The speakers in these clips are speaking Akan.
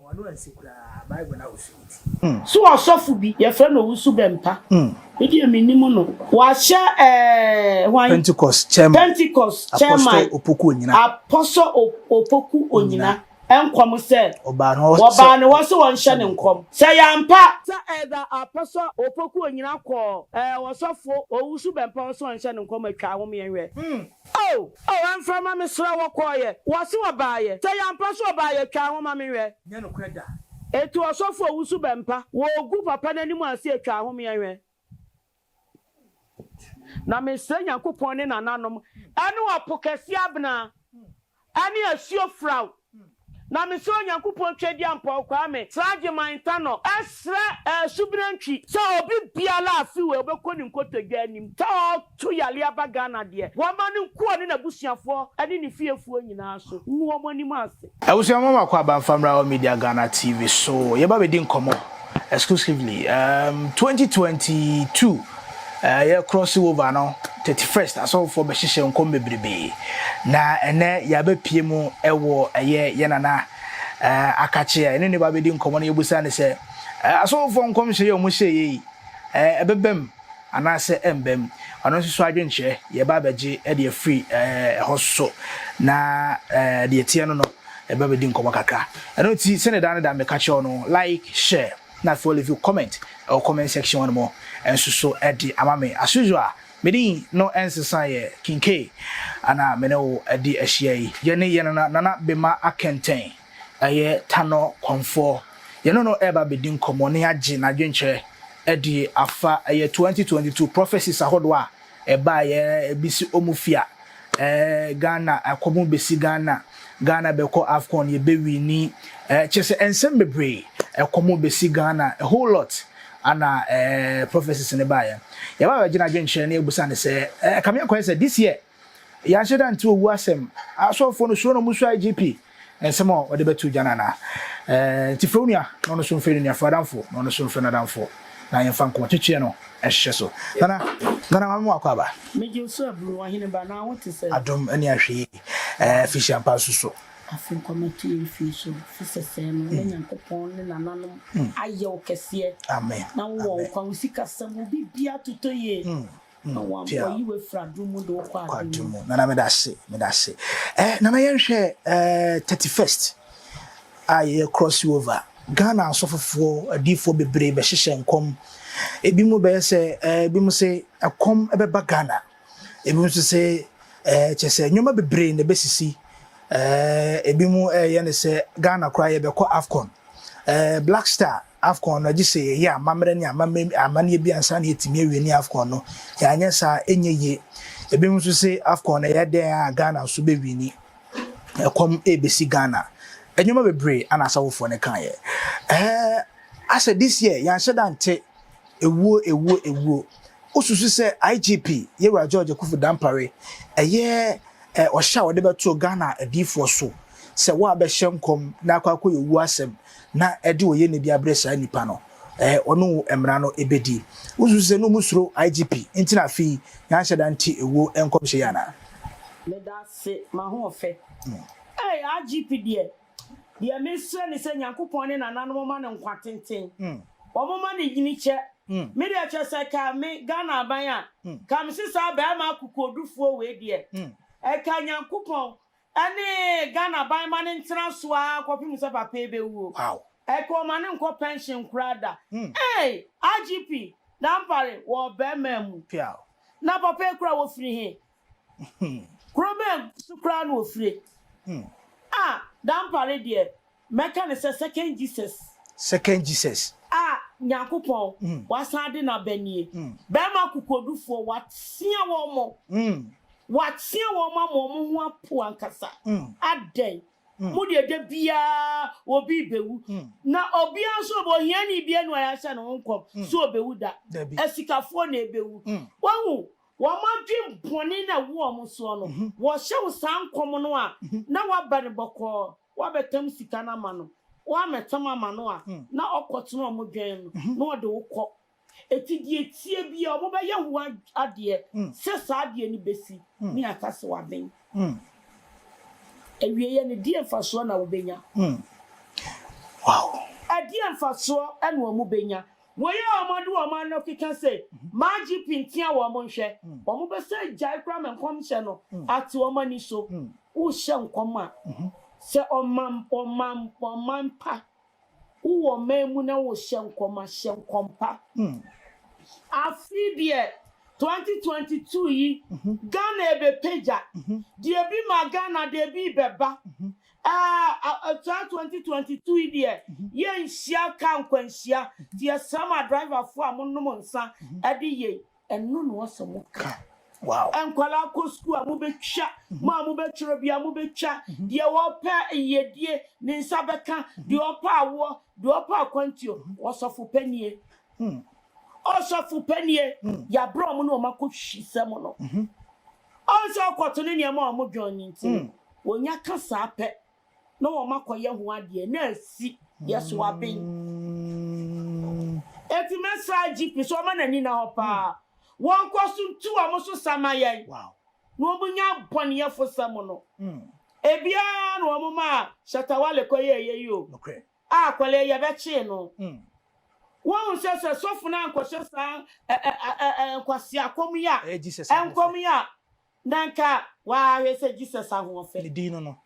Wɔn ano ansi koraa Bible no ahosu nti. So ɔsɔfo bi, yɛfrɛ no Owusu Bɛmpa, me deɛ mennim no, wahyɛ eh, hwan? Pentecost Chairman, Pentecost Chairman, Apostle Opoku Onyina, Apostle Opoku Onyina, nkɔm sɛ, wɔbaa ne hɔ sɛ wɔnhyɛ ne nkɔm, sɛ ɛyɛ ampa, sɛ ɛda Apostle Opoku Onyina kɔɔ eh, ɔsɔfo Owusu Bɛmpa hɔ sɛ ɔnhyɛ no nkɔm a, twa ahomeɛ hwɛ. Oh, oh, ɛmfa mma me srɛ wo, ɔkɔeɛ? Wɔse ɔbaeɛ? Sɛ ɛyɛ ampa so ɔbaeɛ a, twaa ho ma menhwɛ. Nyɛ nokorɛ da. Enti ɔsɔfo a ɔwusu bɛmpa wɔ ɔgu papa no anim ansa a, twaa ho ma yɛnhwɛ. Na mesrɛ Nyankopɔn ne nananom, ɛne ɔpo kɛseɛ abena, Ɛne asuo firaw. Na mesrɛ Onyankopɔn Twadiampɔw Kwame Srageman Ntanɔ ɛsrɛ ɛɛ Subena Ntwi sɛ obi biara a afi wei ɔbɛkɔ ne nkotodwe anim sɛ ɔɔto yareɛ aba Ghana deɛ wɔmma no nkɔ ɔne n'abusuafoɔ ɛne ne fiefoɔ nyinaa so ngu wɔn anim ase. Abusua moma kɔ aba mfa mmra hɔ Media Ghana TV so yɛba bɛdi nkɔmmɔ. exclusively um, twenty twenty two uh, yɛ cross over no thirty first asɔfofoɔ bɛhyehyɛ nkɔm bebrebe na ɛnɛ yɛabɛpie mu ɛwɔ ɛyɛ yɛ nana uh, akakye a ɛne ne ba bɛdi nkɔmmɔ no yɛbusa ne sɛ uh, asɔfofoɔ nkɔmhyɛ yɛ ɔmo hyɛ yɛ yi uh, ɛbɛbam anaasɛ ɛmba mu. Ɔno nso so adwenkyerɛ, yɛba abɛgye deɛ ɛfiri ɛhɔ so, na deɛ ɛteɛ no no, yɛba abɛdi nkɔmmɔ kakra. Ɛno nti, sɛdeɛ daa ne daa meka kyerɛ wo no, like, share, na afei wo leave comment wɔ comment section hɔ nom nso so de ama me. As usual, me din no ɛnsesa yɛ King Kay, na me ne wo adi ahyia yi. Yɛne yɛn nana Nana Bema Akɛntɛn. Ɛyɛ Tanor Kɔmfoɔ. Yɛne no reba abɛdi nkɔmmɔ na yɛagye n'adwenkyerɛ adi afa ɛyɛ 2022 prophecies ahodoɔ a ɛbaeɛ, ebi si Omofia, eh, Ghana, Akɔbom bɛsi Ghana, Ghana bɛkɔ Afcon, yɛbɛwini, eh, kyerɛ sɛ nsɛm bebree, ɛkɔm bɛsi Ghana, a whole lot ana eh, prophecies no baeɛ. Yɛba abɛgye n'adwenkyerɛ na yɛbusa no sɛ, eh, ɛkame akɔyɛ sɛ this year, Yɛanhyɛ da nte owu asɛm. Asɔfoɔ no suro na ɔmo suro IGP nsɛm a ɔde bɛto gya no anaa? Ɛɛ nti frɛ wo nua na ɔno nso mfrɛ ne nua, frɛ adamfo na ɔno nso mfrɛ n'adamfo na yɛmfa nkɔmɔ twetweɛ no nhyehyɛ so. Nana, Nana Maame Moako aba. Megye wo so aburo, ɔhene ba, na wo te sɛn? Adom ne ahwɛyie, ɛɛ Afehyia mpa nso so. Afe nkɔmɔ to yɛn fie so, fi sɛsɛɛ no na Nyankopɔn ne nananom ayɛ wo kɛseɛ Amen, na wo wɔ Amen. nkwa, wo sikasɛm, wo biribiara totɔ yie. na wankɔ yi wɔ efura dum mu de wokɔ adum mu nana meda ase meda ase ɛɛ eh, nana yɛn hwɛ ɛɛ eh, thirty first a yɛ cross over ghana asɔfofoɔ adiifoɔ bebree bɛhyehyɛ nkɔm ebi mu bɛyɛ sɛ ɛɛ eh, ebi mu sɛ ɛkɔm ɛbɛba ghana ebi mu nso sɛ ɛɛ kyɛ sɛ nneɛma bebree na ɛbɛsisi ɛɛ ebi mu ɛɛyɛ ne sɛ ghana koraa yɛbɛkɔ afcon ɛɛ black star. Afcon no, gye sɛ yɛyɛ amammerɛ ne amammerɛ amanneɛ bi ansa na yɛatumi awie ne Afcon no. Yɛanyɛ saa a, ɛnyɛ yie. Ebinom nso se Afcon no, ɛyɛ dɛn a Ghana nso bɛwini. Ɛkɔm rebɛsi Ghana. Nneɛma bebree na asawofoɔ no kaeɛ. Ɛhɛ asɛ this year, yɛanhyɛ da nte ewuo, ewuo, ewuo. Wosusu sɛ IGP, Yewura George Akuffo Dampare, ɛyɛ ɔhyɛ a wɔde bɛtoo Ghana adiyifoɔ so sɛ wɔabɛhyɛ nkɔm na akɔ akɔyɛ owuo asɛm na ɛde oye na bi abrɛ saa nipa no ɛɛ ɔne wo mmara no ɛbɛdi wo susu sɛ no mu suro IGP nti na afei yanhyɛ da nte ɛwuo nkɔmhyɛ yi anaa. Meda ase mahoɔfɛ. Ei IGP deɛ deɛ me srɛ ne sɛ Nyankopɔn ne nananom mma no nkwa tenten wɔn mma no nyini kyɛ me deɛ kyerɛ sɛ ka me Ghana aban a ka me se saa bɛɛma akokoɔdufoɔ wei deɛ ɛka Nyankopɔn Ɛne Ghana ban ma no ntena so ara kɔpem sɛ papa yi bɛwuo. Wow. Ɛka ɔma no nkɔ pension koraa da. Eei! IGP Dampare wɔ ɔbɛmaa mu. Piaw. Na papa yi koraa wɔfiri he? Kuro bɛn so koraa na wɔfire? Ah! Dampare deɛ Mɛka no sɛ second Jesus. Second Jesus. A Nyankopɔn wasan ade no aba nie. Bɛɛma akokoɔdufoɔ watea wɔn mo. Watea wɔn mo ama wɔn ho apo ankasa. Adɛn? Mo deɛ da biara obi rebɛwu. Na obiara nso ɔbɛ ohiani biara ni ɔyɛ ahyɛ ne ho nkɔm sɛ ɔbɛwu da. Asikafoɔ na ɛbɛwu. Wahu? Wɔn adwen bɔne no a ɛwɔ wɔn soɔ no, wɔhyɛ wo saa nkɔm no a, na woabɛ no bɔkɔɔ. Woabɛtam sika no ama no, woammɛtam ama no a, na ɔkɔtena wɔn dwɛn no, na ɔde wo kɔ. Enti deɛ ɛteɛ biara, wɔbɛyɛ ho adeɛ sɛ saa adeɛ no bɛsi, ne yɛaka sɛ wɔaben. Awieeɛ no, deɛn mfasoɔ na wɔbɛnya? Wow! Ɛdeɛn mfasoɔ na wɔbɛnya? Wɔyɛ wɔn ade wɔn ano keka se magye pintia wɔn nhwɛ wɔn bɛsan agyae koraa ma nkɔmhyɛ no ate wɔn ani so. Worehyɛ nkɔm a, sɛ ɔman ɔman ɔman pa, wowɔ ɔman mu na worehyɛ nkɔm a, hyɛ nkɔm pa. Afe yi deɛ, 2022 yi, Ghana ɛbɛpagya. Deɛ ebi maa Ghana deɛ ebi rebɛba. Ah saa twenty twenty two yi deɛ yɛn nhyia ka nkwanhyia ti ɛsrɛ ma driver fo a mo nom nsa ɛde yɛn ɛno na ɔsɛ mo ka wow nkwadaa kɔ sukuu a mo bɛ twa mo a mo bɛ twerɛ bi a mo bɛ twa deɛ wɔpɛ yɛdie ne nsa bɛ ka deɛ ɔpɛ awoɔ deɛ ɔpɛ akwantuo ɔsɔfo panie ɔsɔfo panie yabere ɔmo na ɔmo akɔ hwi sɛ mo no Ɔnhwɛ ɔkɔto ne nneɛma a wɔdwɔn no nti, wɔnya ka saa pɛ na wɔakɔyɛ ho adeɛ na asi yɛ so aben. Enti mɛsrɛ IGP sɛ ɔmma n'ani nna hɔ pa ara, wɔnkɔ so ntu wɔn so sa mma yɛn na wɔnnya bɔneyɛfosɛm no. Ebiara na wɔmaa Shatta Wale kɔyɛeɛ yi o, A akwadaa yɛ bɛ kyee no. Woahu sɛ sɛ sɔfo no ankɔhyɛ saa nkwasea kɔm yi a nkɔm yi a na nka w'ahwɛ sɛ Jesus ahoɔfɛ ne din no no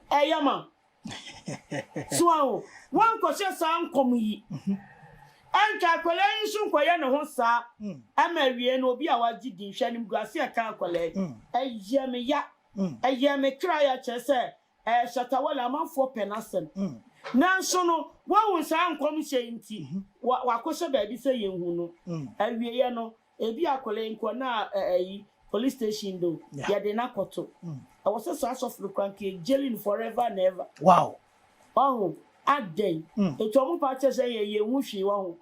ɛyɛ ma so a o woankɔhyɛ saa nkɔm yi ɛnka akwadaa yi nso nkɔyɛ ne ho saa ɛma awie no obi a wagye din hwɛ animguase ɛka akwadaa yi ɛyɛ me ya ɛyɛ me kra ya kyerɛ sɛ Ɛɛ Shatta Wale, amanfoɔ pɛ n'asɛm. Nanso no, woahu saa nkɔmhyɛ yi nti, wa, wakɔhyɛ baabi sɛ yɛnhu no. Awieeɛ no, ebia akwadaa yi nkɔ na ɛ, ayi, police station do, yɛde no akɔto. Ɛwɔ sɛ saa sɔfo no kora nka yɛ jailing forever and ever. Wow! Wahu? Adɛn? Enti wɔn paa kyerɛ sɛ yɛn, yɛnhu hwee, wahu?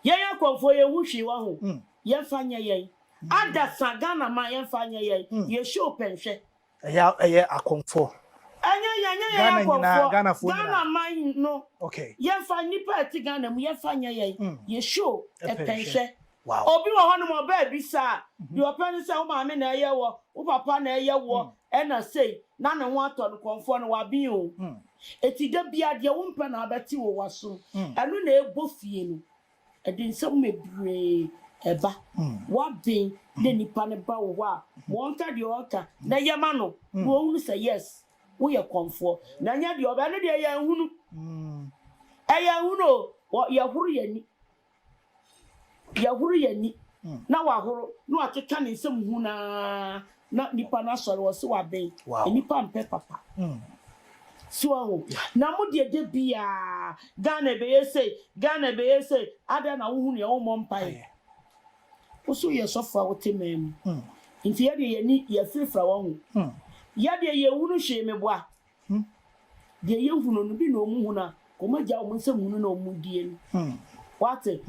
Yɛn akɔmfoɔ, yɛnhu hwee, wahu? Yɛmfa nyɛ yɛn. Adasa, Ghana man, yɛmfa nyɛ yɛn. Yɛ show pɛ nhwɛ. Ɛyɛ ɛyɛ akɔmfoɔ. Ɛnyɛ yɛn ɛnyɛ yɛn Ghana nyinaa akɔmfoɔ Ghanafoɔ Ghana nyinaa. man no Okay. yɛnfa nnipa a ɛte Ghana mu yɛnfa nyɛ yɛn Mm. yɛ show Ɛpɛ ɛpɛ nhwɛ. nhwɛ. Wow. Obi wɔ hɔnom ɔba abisa a deɛ ɔpɛ ne sɛ wo maame na ɛyɛ woɔ wo papa na ɛyɛ woɔ ɛna sei na ne ho atɔ no kɔmfoɔ no waben o. Mm. Enti da biara deɛ wompɛ na abɛte wɔ w'asom Mm. ɛno na ɛbɔ fie no. Ɛde nsɛm bebree ba. W'aden na nipa no ba wo hɔ a, ma ɔnka deɛ ɔreka na yɛ ma no na ɔhunu sɛ yes, woyɛ kɔmfoɔ na ɛnyɛ deɛ ɔbɛ, ɛno deɛ yɛnhunu, yɛnhunu o, yɛhoro yɛn ani, yɛhoro yɛn ani na wahoro na wakeka ne nsam hunu ara Na nipa no asɔre wɔse waben nipa mpɛ papa so wahu na mo deɛ da biaa Ghana ɛbɛyɛ sei Ghana ɛbɛyɛ sei adɛn na wo hunu yɛ wo mmɔ mpaeɛ wo so yɛ sɔfo a wote man mu nti yɛ deɛ yɛni yɛ firifira wahu yɛ deɛ yɛ hunu hwee me boa deɛ yɛ hunu no bi na ɔmu hunu a ɔmu agya ɔmu nsɛm hunu na ɔmu die no wate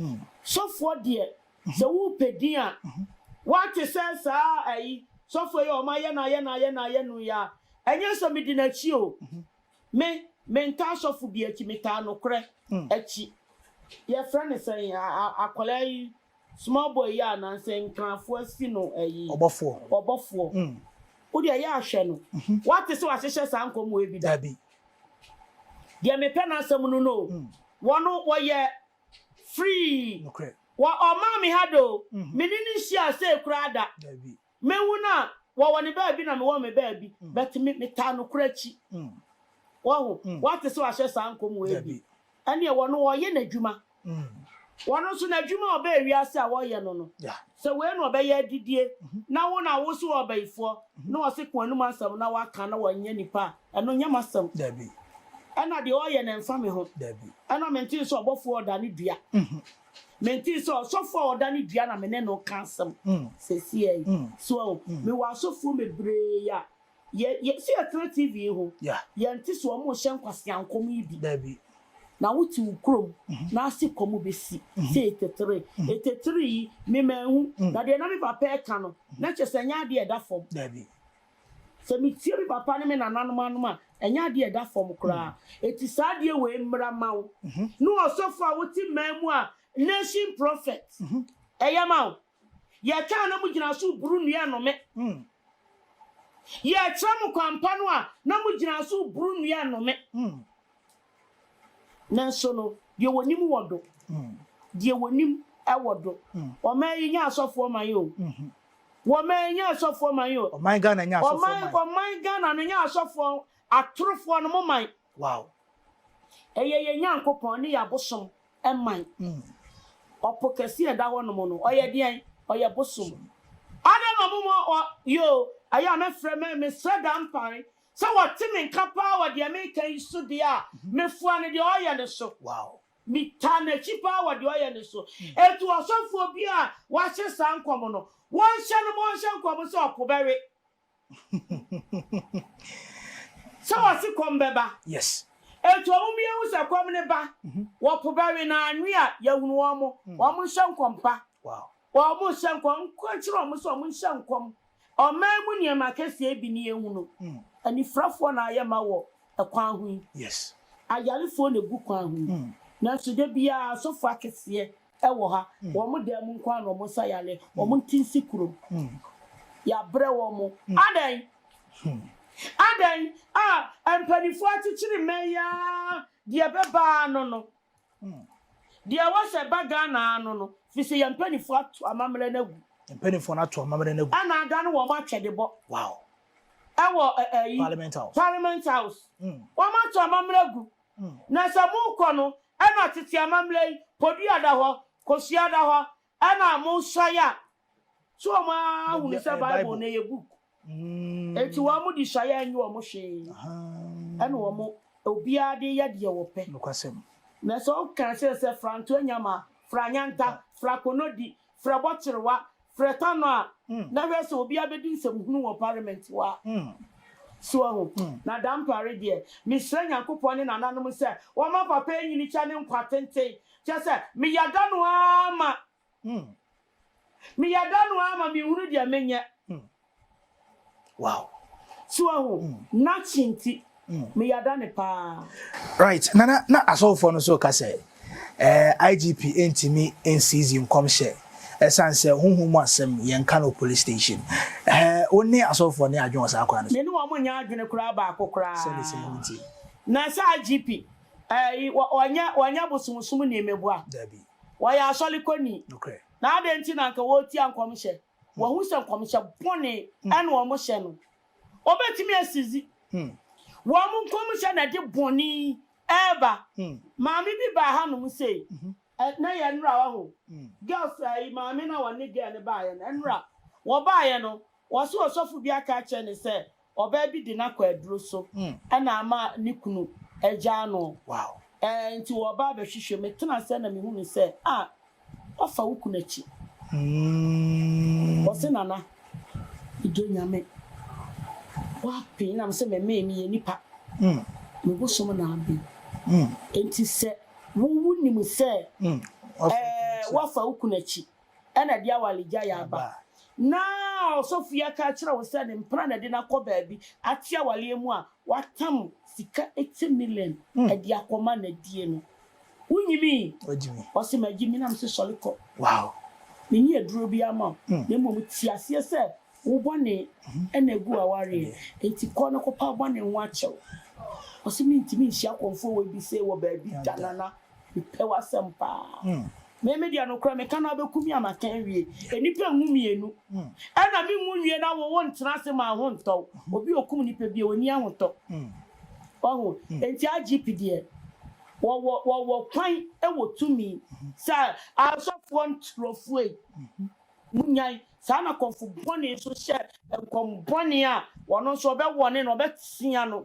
sɔfoɔ deɛ Sɛ wopɛ din a woate sɛ saa ayi sɔfoɔ yi a wɔayɛ no ayɛ no ayɛ no ayɛ no yi a, ɛnyɛ sɛ medi n'akyi o. Me, mentaa sɔfo bi akyi, metaa nokorɛ akyi. Yɛfrɛ no sɛn yi, akwadaa yi, small boy yi a anaasɛ Nkrafoɔ asi no ayi, ɔbɔfoɔ. Wo deɛ yɛ a hwɛ no, woate sɛ wɔahyehyɛ saa nkɔmmɔɔ yi bi da? Deɛ mepɛ n'asɛm no no o, wɔn wɔyɛ Free. Nokorɛ. Wɔ ɔmaa me ha doo. Me ne no nhyiaa sei koraa da. Daabi. Mehu no a, wɔwɔ ne baabi na mewɔ me baabi, but me, metaa nokorɛ akyi. Wahu? Woate sɛ wahyɛ saa nkɔm wei bi? Daabi. Ɛnneɛ wɔno wɔreyɛ n'adwuma. Wɔno nso n'adwuma a ɔbaa wiase a wɔreyɛ no no, Yeah. sɛ wei na ɔbɛyɛ adidie, na wo na wose woyɛ ɔbayifoɔ, na ɔse ko anom asɛm na woaka na wanyɛ nipa a, Ɛno nyɛ m'asɛm. Dabi. Ɛna deɛ ɔyɛ no ɛmfa me ho. Dabi. Ɛna mentee sɛ ɔbɔfoɔ a ɔda ne dua. Mentee sɛ ɔsɔfoɔ a ɔda ne dua na me ne no reka asɛm seesei yi. So ahu? Mewɔ asɔfoɔ bebree a yɛ, yɛ, so yɛtena TV yi ho, yɛnte sɛ wɔrehyɛ nkwasea nkɔm yi bi. Dabi. Na wote wo kurom na ase kɔm bɛsi sɛ 83. 83 yi, me manhu. Na deɛ na me papa reka no, na kyerɛ sɛ ɛnyɛ adeɛ a ɛda fam. Dabi. Sɛ metie me papa ne me nananom anom a, ɛnyɛ adeɛ a ɛda fam koraa. Enti saa adeɛ wei mmra mma wo ne ɔsɔfo a wote mmaa mu a nation prophet ɛyɛ ma wo. Yɛtwa a na mogyina so reboro nnua nnome. Yɛkyerɛ mo kwan pa no a, na mogyina so reboro nnua nnome. Nanso no, deɛ wɔnim wɔ do. Deɛ wɔnim wɔ do. Ɔman yi nyɛ asɔfoɔ man o. Wɔman yi nyɛ asɔfoɔ man o. Ɔman Ghana nyɛ asɔfoɔ man. Ɔman Ɔman Ghana no nyɛ asɔfoɔ atorofoɔ no mo man. Wow. Ɛyɛ yɛn Nyankopɔn ne yɛn abosom man. Ɔpo kɛse a ɛda hɔnom no, ɔyɛ deɛn? Ɔyɛ bosom. Adɛn na ɔmo ma ɔ yoo? Ɛyɛ a mɛfrɛ mɛ mesrɛ da mpae Sɛ wɔte me nka paa wɔ deɛ meka yi so deɛ a, mefoa no deɛ ɔyɛ no so. Metaa n'akyi paa wɔ deɛ ɔyɛ no so. Enti ɔsɔfoɔ bi a wahyɛ saa nkɔm no, wɔnhyɛ no ma ɔnhyɛ nkɔm sɛ ɔpo bɛwe, sɛ wɔse kɔm bɛba. Enti wɔn mu yɛhu sɛ kɔm no ba, wɔpo bɛwe, na anwe a, yɛahunu wɔn, wɔnhyɛ nkɔm pa. Wɔnhyɛ nkɔm, nka nkyerɛ wɔn sɛ wɔnhyɛ nkɔm. Ɔman mu nneɛma akɛseɛ bi ne yɛhu no, anifirafoɔ na ayɛ ma wɔ kwan ho yi, ayarefoɔ na ɛgu kwan ho yi, nanso da biara asɔfoɔ akɛseɛ wɔ ha, wɔn dan mu nko ara na wɔsa yareɛ, wɔn nte nsi kurom. Yɛabrɛ wɔn. Adɛn? Adɛn? Ah, mpanimfoɔ akyekyere mmɛn yi ara, deɛ ɛbɛba ara no no. Deɛ ɛwɔ sɛ ɛba Ghana ano no, firi sɛ yɛn mpanimfoɔ ato amammerɛ no agu. Yɛn mpanimfoɔ no ato amammerɛ no agu. Ɛna adane wɔn atwɛdebɔ. Wow. Ɛwɔ ɛ ɛyi. Parliament House. Parliament House. Mm. Wɔn ato amammerɛ agu. Mm. Na sɛ mokɔ no, ɛna tete amammerɛ yi, Poduya da hɔ, Kosua da hɔ, Ɛna a monsa yɛ a, so wɔn ara hunu sɛ Bible no yɛ book? Enti wɔn de sua yɛ nyɛ wɔn hwee, ɛna wɔn obiara de yɛ deɛ wɔpɛ. Na sɛ wɔka kyerɛ sɛ fra Ntoanyama, fra Nyanta, fra Konodi, fra Bɔkyerewa, fra Tanɔ a, na hwɛ sɛ obiara bɛdi nsɛm hunu wɔ parliament hɔ a. So wahu? Na dampare deɛ, mesrɛ Nyankopɔn ne nananom sɛ wɔma papa anyini kyɛ ne nkwa tenten Kyerɛ sɛ, meyada no ara ma. Meyada no ara ma menhunu deɛ menyɛ. Wow. So wahu? N'akyi nti, meyada no paa. Right, Nana, na asɔfofoɔ no nso reka sɛ, eh, IGP ntumi nseizi nkɔmhyɛ ɛsiane sɛ honhom mu asɛm yɛnka no wɔ police station. Eh, wo ne asɔfofoɔ no yɛ adwene wɔ saa kwan no so? Me ne wɔn nyɛ adwene koraa baako koraa. Sɛdeɛ sɛ ɛho nti. Na sɛ IGP, Ayi, wɔ, wɔnyɛ, wɔnyɛ bosomsomni mmeboa. Dabi. Wɔyɛ asɔrekɔni. Nokorɛ. Na adɛn nti na anka wɔretia nkɔmhyɛ? Wɔahu sɛ nkɔmhyɛ bɔne na wɔhyɛ no. Wɔbɛtumi asizi. Wɔn nkɔmhyɛ na ɛde bɔne yi reba. Maame bi baa hanom sei, ɛ, na ɛyɛ nnora, wahu. Girls, ayi, maame no a wɔne girl no baeɛ no, nnora. Wɔbaeɛ no, wɔse ɔsɔfo bi aka akyerɛ no sɛ Ɔbaa bi de no akɔ aduro so na ama ne kunu agyaa no. Enti wɔba abɛhwehwɛ. Metena ase na mehunu no sɛ, Ah, woafa wo kunu akyi. Ɔse, Nana, medɔ Nyame. Woapen na mese memee, meyɛ nipa. Me bosom na aben. Enti sɛ wo wonim sɛ woafa wo kunu akyi. Ɛna ɛde awaregyaeɛ aba. Na ɔsɔfoyɛ ka akyerɛ wo sɛ ne mpena na ɛde no akɔ baabi ate awareɛ mu a, watam sika eti million ɛde akɔma nadie no. Wo nyimii? Ɔse magyimi na mese sɔre kɔ. Menni aduro biara ma wo na mmom te aseɛ sɛ Wo bɔne na egu w'awareɛ nti kɔ na kɔpɛ abɔne ho akyɛw. Ɔse mentumi nhyia kɔmfoɔ wei bi sei wɔ baabi da Nana mepɛ w'asɛm paa. Me me deɛ nokorɛ meka no abɛku me a maka awie. Nnipa nwu mmienu ɛna me nwu nwie na wo wo ntena ase ma ho ntɔ wo. Obi a okum nipa biaa ɔnni ahotɔ. Wahu? Nti IGP deɛ wɔwɔ wɔwɔ kwan wɔ tumi sɛ asɔfoɔ nturofoɔ yi. Munnyae! Saa na kɔmfo bɔne nso hyɛ nkɔm bɔne a ɔno nso ɔbɛwɔne no, ɔbɛtea no.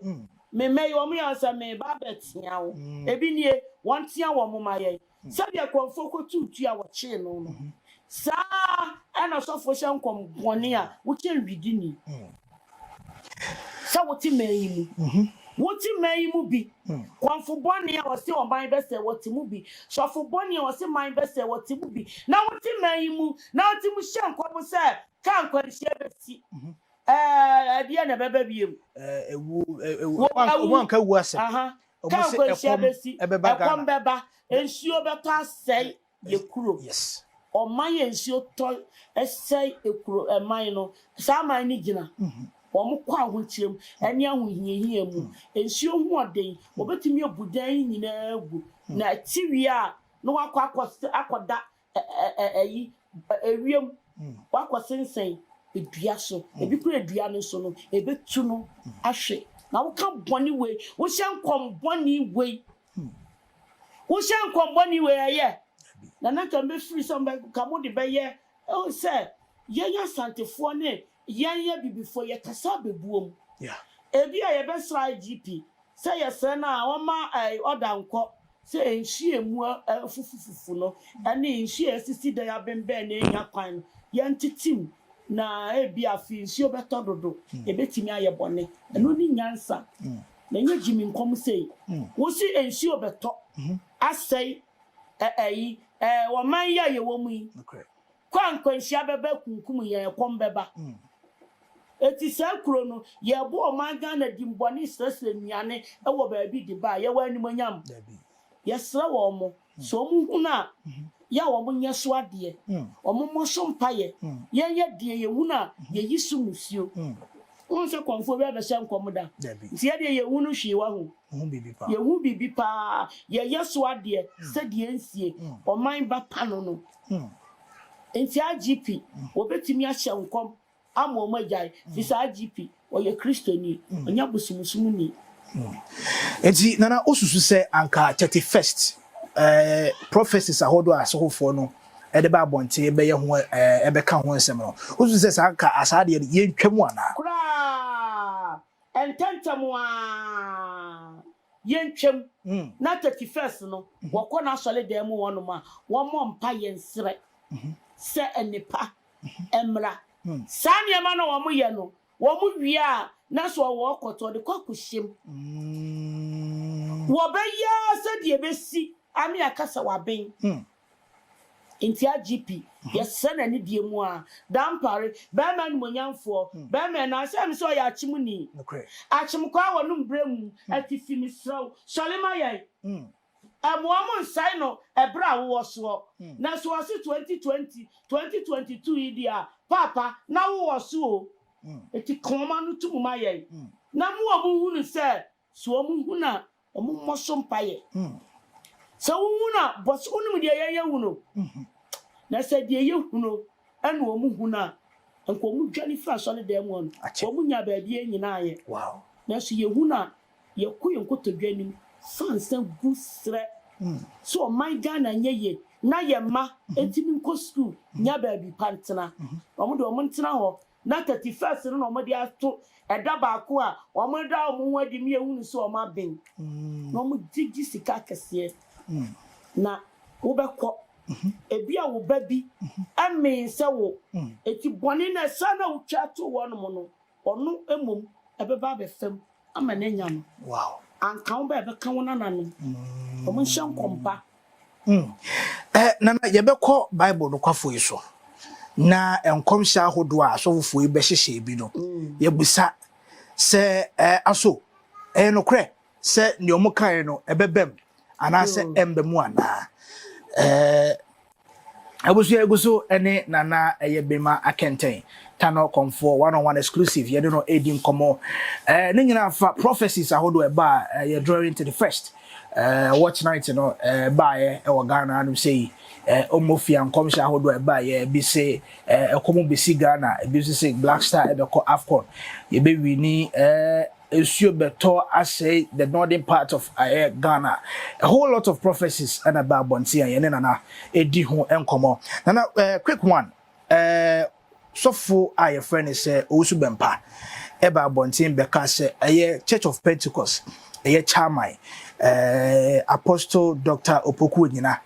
Me mma yi, wɔyɛ wɔn sɛ, Mereba abɛtea wo. Ebi nie, wɔntea wɔn mma yɛn. Sɛdeɛ kɔmfoɔ kɔtuu tua a wɔkyee no no, saa ara na ɔsɔfoɔ hyɛ nkɔm bɔne a wokyɛ widini. Sɛ wote man yi mu, wote man yi mu bi, kɔmfo bɔne a ɔse ɔman bɛsɛe wɔte mu bi, sɔfo bɔne a ɔse man bɛsɛe wɔte mu bi, na wote man yi mu na wote mu hyɛ nkɔm sɛ ka nkwanhyia bɛsi. Ɛɛ, ɛdeɛ na ɛbɛba biom. Ɛwuo, ɛwuo, wɔn anka ɛwuo asɛm. Ka nkwanhyia bɛsi, ɛkɔm bɛba, nsuo bɛtɔ asɛe. yɛ kuro ɔman yɛ nsuo tɔ ɛsɛe ekuro ɛman no saa aman no gyina wɔn kɔ ahokyerɛm ɛne ahohiahia mu nsuo ho ɔden wɔbɛtumi abu dan yi nyinaa agu na ɛte wie a na wakɔ akɔ akɔda ɛyi ewiem wakɔ sensɛn edua so ebi kura edua no so no ebetu no ahwɛ na woka bɔne wei wohyɛ nkɔm bɔne wei Wohyɛ nkɔm bɔne wei a, ɛyɛ? Na na nka mɛfiri sɛ nka mode bɛyɛ sɛ yɛn Asantefoɔ ne yɛn Abibifoɔ yɛkasa bɛbuom. Ebia yɛbɛsrɛ IGP sɛ yɛsrɛ no a ɔmma ɔda nkɔ sɛ nhyiamu afufufufu no ne nhyiamu a ɛsisi da yi abembɛn na ɛnnya kwan no yɛntete mu na ebia afei nsuo bɛtɔ dodo, ɛbɛtumi ayɛ bɔne. Ɛno ne nyansa. Na ɛnyɛ Jimmy nkɔm sei. Wosi nsuo bɛtɔ asɛe ɛ ɛyi ɛ ɔman yi a yɛwɔ mu yi. Kɔ a nkwanhyia bɛba akunkum yɛn, ɛkɔm bɛba. Eti saa kuro no, yɛbɔ ɔman Ghana din bɔne srɛsrɛ nnuane wɔ baabi de ba a, yɛwɔ animuonyam? Yɛsrɛ wɔn. Sɛ wɔhunu a, yɛ a wɔnyɛ so adeɛ, wɔmmɔ so mpaeɛ, yɛyɛ deɛ yɛhunu a yɛyi so musuo. Wohu sɛ kɔmfoɔ biara bɛhyɛ nkɔm da? Nti yɛdeɛ yɛnhunu hwee wahu? Yɛhu biribi paa, yɛyɛ so adeɛ sɛdeɛ nsie ɔman ba pano no. Nti IGP, wɔbɛtumi ahyɛ nkɔm. Ama ɔmo agyae, fi saa IGP ɔyɛ kristoni, ɔnyɛ bosomsom ni. Enti nana wo susu sɛ anka 31st prophecies ahodoɔ a asɔhofoɔ no de ba abɔnten bɛyɛ ho ɛbɛka ho nsɛm no wo susu sɛ saa anka saa deɛ no yɛntwa mu anaa? Koraa! Ntɛntɛm aa yɛntwa mu na 31st no wɔkɔ n'asɔredan mu hɔnom a wɔmmɔ mpaeɛ nsrɛ sɛ nnepa mmra. Saa nneɛma no a wɔyɛ no, wɔwie a, na so ɔwɔ ɔkɔtɔ de kɔ akɔhyɛ mu. Wɔbɛyɛ ara sɛdeɛ ɛbɛsi ame aka sɛ waben. Enti IGP, yɛsrɛ no anidie mu ara, Dampare, barima animuonyamfoɔ, barima a ɛnam sɛ ɛyɛ me sɛ ɔyɛ akyemuni, akyemkwaa wɔ ne mbrɛ mu, atifi, mesrɛ wo, sɔre ma yɛn. Mmoa mo nsɛe no ɛberɛ a wowɔ soɔ. Na so ɔse 2020, 2022 yi deɛ a paapa na wowɔ so o. Enti ka wɔn ano to mu ma yɛn na mo wɔn nhunu sɛ so wɔn hunu a wɔn mmɔ so mpaeɛ. Sɛ wo hunu a bɔ so wonim deɛ yɛn yɛ hunu. Na sɛ deɛ yɛ hunu ɛna wɔn hunu a nka wɔn dwane firi asɔredan mu a wɔn nya baabi nyinaa yɛ. Nanso yɛ hunu a Yɛkɔ yɛn nkotodwe anim sansan gu srɛ sɛ ɔman Ghana nyɛ yie na yɛn mma ntumi nkɔ sukuu nya baabi pa ntena. Wɔn deɛ wɔn ntena hɔ na thirty first no na wɔde ato ɛda baako a wɔda wɔn ho adi ne yɛhunu sɛ wɔn aben na wɔgyegye sika akɛseɛ na wobɛkɔ. Ebi a wo ba bi mmee sɛ wo. Enti bɔne no a ɛsaa na wotwa too wɔnom no Ɔno mmom ɛbɛba abɛfa mu ama no anya no. Anka wo ba a ɛbɛka wo nananom. Wɔnhyɛ nkɔm pa. Hmm. Eh, nana, yɛbɛkɔ Bible nokwafo yi so na nkɔmhyɛ ahodoɔ a asɔfofo yi bɛhyehyɛ bi no, mm. yɛbisa sɛ eh, aso ɛyɛ nokorɛ sɛ nea wɔkae no ɛbɛbam anaasɛ mm. ɛmba mu anaa abusua egu so ne nana ɛyɛ bema akɛntɛn tano kɔnfoɔ one on one exclusive yɛde no edi nkɔmɔ ɛɛ ne nyinaa fa prophecies ahodoɔ ɛbaa ɛyɛ drawing to the first ɛɛ watch night no ɛɛ baayɛ ɛwɔ ghana anum sɛ yi ɛɛ ɔmo fia nkɔmhyɛ ahodoɔ ɛbaa yɛ ebi se ɛɛ ɛkɔm besi ghana ebi nso se black star ɛbɛkɔ afcon yɛbɛwi ni ɛɛ. nsuo bɛtɔ asɛe the northern part of ɛyɛ Ghana. A whole lot of prophecies ɛna ɛba abɔnten a yɛne Nana ɛdi ho nkɔmmɔ. Nana, eh, quick one, eh, sɔfo a yɛfrɛ ne sɛ Owusu Bɛmpa ɛba abɔnten bɛka sɛ ɛyɛ Church of Pentecost, ɛyɛ Chairman, eh, Apostle Dr. Opoku Onyina.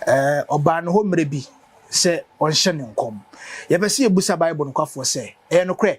Eh, ɔbaa no hɔ mmerɛ bi sɛ ɔnhyɛ ne nkɔm. Yɛpɛ sɛ yɛbusa Bible nokwafoɔ sɛ, ɛyɛ nokorɛ?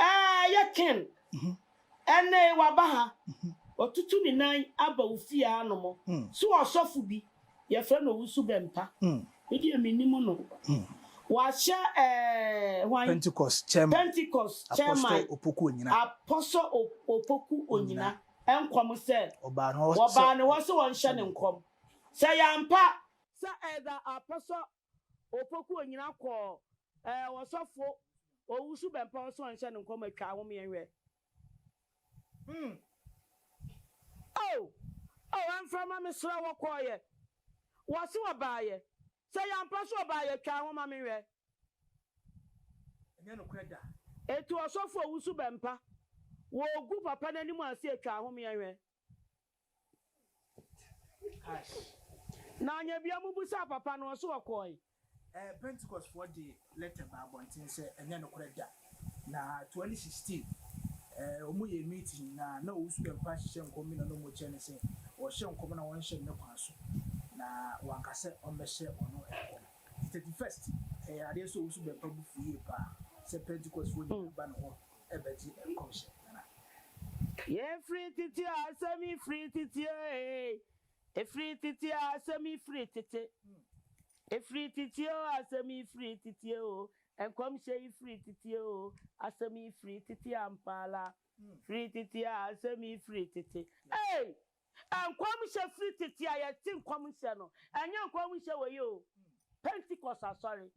Aah yɛ Ken ɛnɛ yi waba ha watutu ne nan aba wo fie ha nom so ɔsɔfo bi yɛfrɛ no Owusu Bɛmpa me deɛ menim no wahyɛ ɛɛɛ hwan Pentecost chairman Pentecost chairman Apostle Opoku Onyina Apostle Opoku Onyina nkɔm sɛ wɔbaa ne hɔ sɛ wɔnhyɛ ne nkɔm sɛ yɛampa sɛ either Apostle Opoku Onyina kɔɔ eh Ɔsɔfo Owusu Bɛmpa Ɔsɔɔ nhyɛ no nkɔm atwa ahome yɛn hwɛ mm oh oh Ɛmfrɛ mma me srɛ wo Ɔkɔɔyɛ Wɔse ɔbaayɛ Sɛ yɛ ampa so ɔbaayɛ Twa ho ma me nhwɛ Ɛnyɛ nokorɛ da Etu Ɔsɔfo Owusu Bɛmpa Wɔ Ogu papa n'anim ase Twa ahome yɛn hwɛ. Na ɔnyɛ bia mobusaa papa no ɔse ɔkɔɔe. Pentecost foɔ de letter baa abɔnten sɛ ɛnyɛ nokorɛ da na 2016 wɔn yɛɛ meeting na na Owusu Bempah hyehyɛ nkɔm bi na na wɔn kyerɛ no sɛ ɔhyɛ nkɔm na wɔn hyɛ no ne kwan so na wanka sɛ ɔmmɛhyɛ wɔn nkɔm nti 31st ɛyɛ adeɛ sɛ Owusu Bempah bo fu yie paa sɛ Pentecost foɔ nyinaa ba ne hɔ ɛbɛgye nkɔmhyɛ biara. Yei firi tete a asɛm yi firi tete ee Ɛfiri tete a asɛm yi firi tete Ɛfiri tete oo asɛm yi firi tete oo Nkɔmhyɛ yi firi tete oo asɛm yi firi tete ampa ara Firi tete a asɛm yi firi tete ee Nkɔmhyɛ firi tete a yɛte nkɔmhyɛ no, ɛnyɛ nkɔmhyɛ wei yi o, Pentecost asɔre,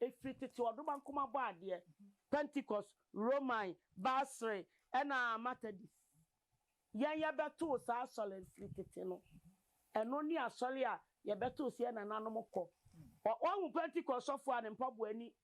ɛfiri tete ɔdoma nkoma bɔ adeɛ, Pentecost, Roman, Basre, ɛna Matadis. Yɛn yɛbɛtoo saa asɔre no firi tete no, ɛno ne asɔre a yɛbɛtoo so yɛn nananom kɔ. Wahu Pentecost sɔfoɔ a ne mpaboa ani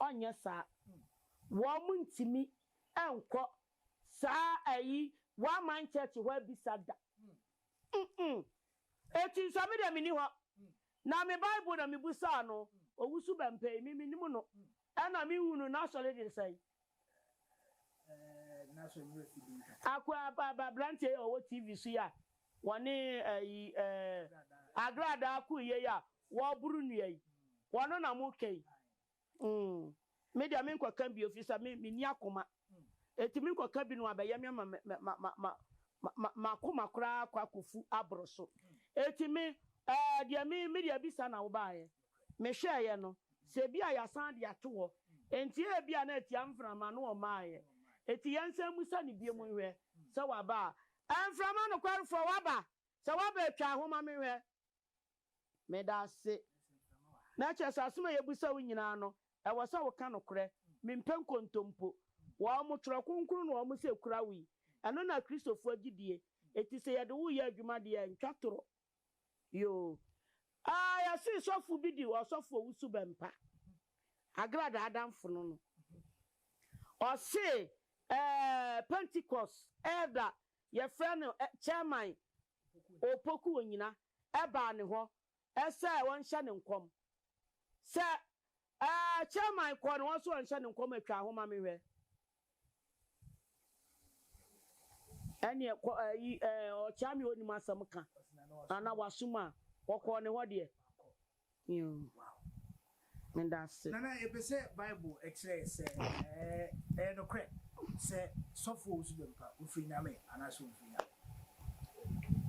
Ɔnyɛ saa. Wɔntumi nkɔ saa ayi One Mind Church hɔ abisa da. Mm-mm. Eti nso me deɛ menni hɔ. Na me Bible na mebusaa no, owusu bɛmpɛ yi, me mennim no. Ɛna menhunu n'asɔre de sɛn. Akuappa aba aberanteɛ yi a ɔwɔ TV so yi a wɔne ɛyi eh, Agradaa ko yie yi a wɔreboro nnua yi. Wɔno na moka yi. Mm. Me deɛ menkɔka bio firi sɛ me, menni akoma. Enti menkɔka bi na wɔabɛyɛ me ama me, ma, ma, ma, ma, ma, m'akoma koraa akɔ akɔfu aboro so. Enti me, ɛɛ, deɛ me, me deɛ bisa na wobaaeɛ. mehwɛeɛ no, sɛ ebia yɛasan de ato hɔ, enti ebia na atia mframa no ɔmaaeɛ. Enti yɛnsan mmisa no bio nhwɛ sɛ waba a. Ɛɛ, mframa nokwarefoɔ, waba? Sɛ waba a, twa ho ma menhwɛ. Meda ase. Na ɛkyerɛ sɛ asɛm a yɛbisa wo nyinaa no, ɛwɔ sɛ woka nokorɛ. Mempɛ nkontompo. Wɔn, Twerɛ Kronkron no wɔn se kura wo yi. Ɛno na Kristofoɔ gyidie. Enti sɛ yɛde wo reyɛ adwuma deɛ a, ntwa torɔ. Yoo aa yɛse sɔfo bi di ɔsɔfo owu so bɛmpa agrada adamfo no no ɔse ɛɛ pentecost elder yɛfrɛ no chairman opoku onyina ɛbaa ne hɔ ɛsɛ ɔnhyɛ ne nkɔm sɛ ɛɛ chairman kɔɔ ne hɔ sɛ ɔnhyɛ ne nkɔm a twaa ho ma me hwɛ. Ɛneɛ kɔ ɛɛ yi ɛɛ ɔɔkyaa me ɔnnim asɛm ka ana wasom a ɔkɔɔ ne hɔ deɛ yoo medase. Nana yɛpɛ sɛ bible ɛkyerɛ yɛ sɛ ɛɛ ɛyɛ nokorɛ sɛ sɔfoɔ wo so bɛ mpa ofiri nyame anaa sɛ omfiri nyame.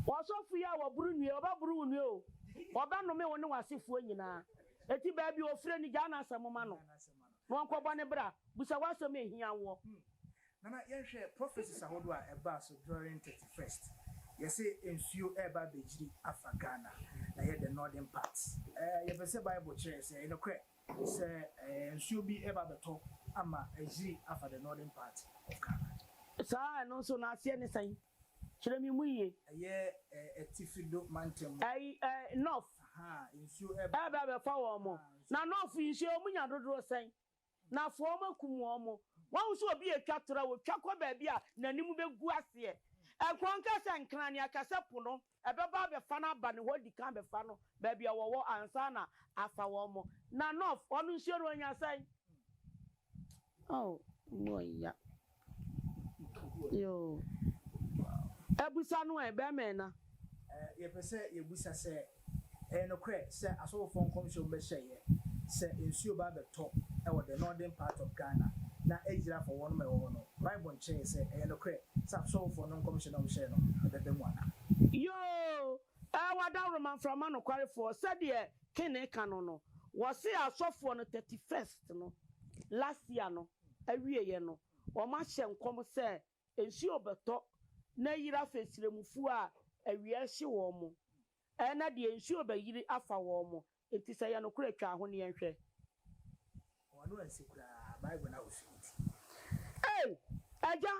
Ɔsɔfo yi a wɔboro nnue ɔbɛboro wo nnue o ɔbɛnome wo ne w'asefoɔ nyinaa eti baabi ofire no gyaa n'asɛm ma no. Na wɔnkɔbɔ ne bra. Busa w'asɛm a ehia woɔ. Hmm. Nana yɛnhwɛ prophecies ahodoɔ a ɛbaa so during thirty first. Yɛse nsuo reba abɛgyiri afa Ghana. Na ɛyɛ the northern part. Ɛɛ yɛpɛ sɛ bible kyerɛ yɛn sɛ ɛyɛ nokorɛ sɛ ɛɛ nsuo bi reba abɛtɔ ama agyiri afa the northern part of Ghana. Saa a ɛno nso n'aseɛ ne sɛn? Kyerɛ me mu yie. Ɛyɛ Atifi do mantam mu. Ɛy ɛ Nɔf. Aha a nsuo ɛb. Ɛɛba abɛfa wɔn mo. Na Nɔf nsuo wɔn nya dodoɔ sɛn? Na afoa wɔn akum wɔn mo. Wahu sɛ obi retwa toro a, ɔtwa kɔ baabi a n'anim bɛgu aseɛ. Ɛkorɔn ka sɛ Nkrane, Akasɛ po no. Ɛbɛba abɛfa no aba ne hɔ adi kan abɛfa no baabi a wɔwɔ ansa na afa wɔn. Na North hɔ no nsuo no anya sɛn? Oh, emu ɔya. Yoo. Ɛbusa no ɛ, bɛmɛɛ na. Yɛpɛ sɛ yɛbusa sɛ, Ɛyɛ nokorɛ sɛ asɔfofoɔ nkɔmhyɛ mu bɛhyɛeɛ sɛ nsuo bɛba abɛtɔ wɔ the northern part of Ghana na ayiri afa wɔnom a ɛwɔ hɔ no, Bible nkyerɛeɛ sɛ ɛyɛ nokorɛ sɛ asɔfofoɔ no nkɔmhyɛ no a wɔhyɛeɛ no ɛbɛba mu anaa? Yoo, ɛɛ wɔ adaworoma mframa nokwarefoɔ sɛdeɛ Kenney ka no no, wɔse asɔfoɔ no thirty first no last year no awieɛ no wɔahyɛ nkɔm sɛ nsuo bɛtɔ na ayiri afa asiramufoɔ a awia rehye wɔn, ɛna deɛ nsuo bɛyiri afa wɔn, enti sɛ ɛyɛ nokorɛ twa ho neɛ nhwɛ. Wɔn ano ansi koraa Bible no ahosuo nti. Ei! Agya!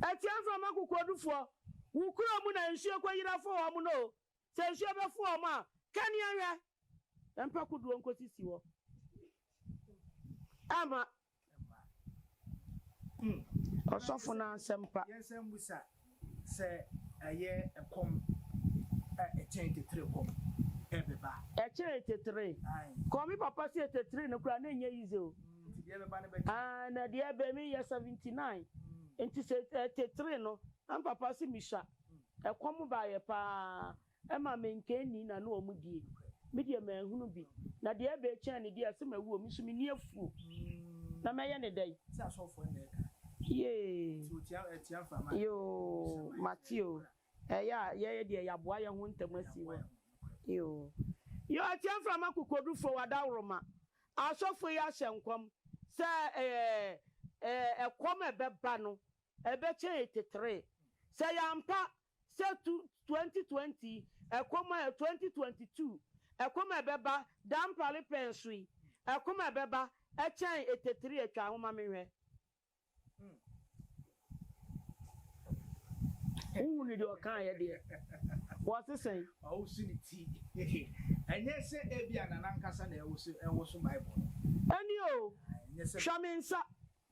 Atua mframa kokoɔdufoɔ, wo kuro mu na nsuo kɔyiri afa wɔn no o, Sɛ nsuo bɛfu wɔn a, kani anwɛ, ɛmpa kodoɔ nkɔsisi hɔ. Ɛmma. Ɔsɔfo no asɛm pa. Yɛnsan mmisa sɛ ɛyɛ ɛkɔm a ɛkyɛn tetere kɔm ɛbɛba. Ɛkyɛn tetere kɔm. Me papa se tetere no koraa na ɛnyɛ yize o. Nti deɛ ɛbɛba no bɛka. Aane deɛ ɛbɛ, me yɛ seventy nine nti sɛ tetere no na me papa se me sua. Ɛkɔm baeɛ pa ara ma me nka nni na ne wɔn die. Me deɛ manhunu bi. Na deɛ ɛbɛɛ kyɛn ne deɛ se mawuo me nso me ni afuo. Na mɛyɛ ne dɛn? Sɛ asɔfoɔ nna ɛka. Yee. Nti otia ɛtia nfa ma. Yoo mate o ɛyɛ a yɛyɛ deɛ yaboa yɛho ntɛm asi hɔ yoo. Yoo ɛtia nfa ma kokodufoɔ wadaworoma asɔfoɔ yi ahyɛ nkɔm sɛ ɛɛ ɛɛ ɛkɔm ɛbɛba no Ɛbɛkyɛe tetere. Sɛ yɛampa sɛ tu 2020 ɛkɔm a 2022 ɛkɔm a ɛbɛba dampare pɛ nso yi ɛkɔm a ɛbɛba ɛkyɛn etetere a twa ho ma menhwɛ. Wohunu deɛ ɔkaeɛ deɛ? Wɔse sɛn? Ɔwoso ne ti. Ɛnyɛ sɛ ebia na n'ankasa na ɛwoso Bible no. Ɛne o. Hwɛ me nsa.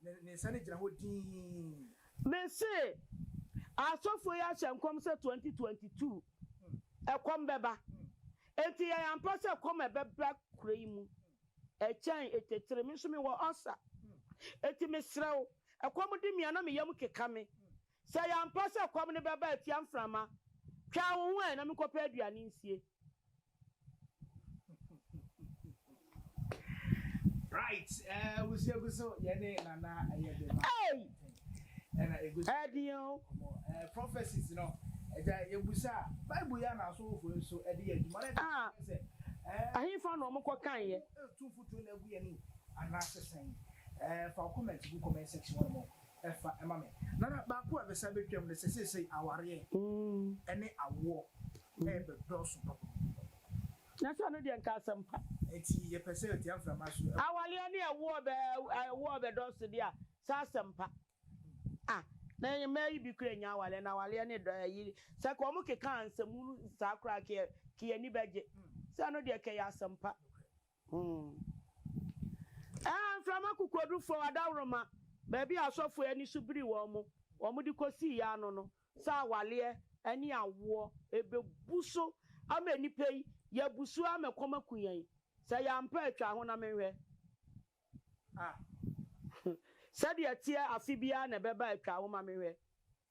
Ne ne nsa no gyina hɔ dinn. Me se asɔfoɔ yi ahyɛ nkɔm sɛ 2022 ɛkɔm bɛba enti yɛn ampa sɛ ɛkɔm a ɛbɛba kuro yi mu ɛkyɛn etetire me nso me wɔ ulcer enti me srɛ wo ɛkɔm de me a na me yam keka me sɛ ɛyɛ ampa sɛ ɛkɔm no bɛba atia mframa twɛn wo ho ɛ na me nkɔpɛ aduane nsie Right, eh, wusi egu so yɛ ne nana ɛyɛ de ma. Hey! Ɛna egu so. Ɛdi o. Ɔmɔ ɛɛ prophecies no ɛgya ebusa Bible yɛ na asɔfo nso ɛde yɛ adwuma na ɛde sɛ ɛɛ. Ahinfa na ɔmo kɔ kan yɛ. Etu futu na egu yɛ ni anaasɛ sɛn ɛɛ fa comment gu comment section hɔ nom ɛfa ɛma me. Nana baako a bɛsan bɛtwam ne sɛ seesei awareɛ ɛne awoɔ ɛɛbɛ dɔɔso papa. Na sɛ ɔno deɛ nka asɛm pa. Nti yɛpɛ sɛ ɔtia mframa so. Awareɛ ne ɛwoɔ bɛ ɛwoɔ bɛ dɔɔso deɛ a sɛ asɛm pa. Ah na mmaa yi bi kura nya awareɛ na awareɛ ne dɔ ɛyi sɛ kɛ ɔmo keka ansɛm hunu saa koraa kɛ kɛ yɛni bɛgye. Sɛ ɛno deɛ kɛ ɛyɛ asɛm pa. Ɛɛ, mframa kokodurufo, adaworoma, baabi a asɔfo ani so biri wɔn mo, wɔde kosii yɛn ano no, sɛ awareɛ ne awoɔ, ɛbɛbu so ama nnipa yi, yɛabu so ara ma ɛkɔm aku yɛn, sɛ yɛampɛ a, twa ho na menhwɛ a, sɛdeɛ ɛteɛ afe biara na ɛbɛba a, twa ho ma menhwɛ.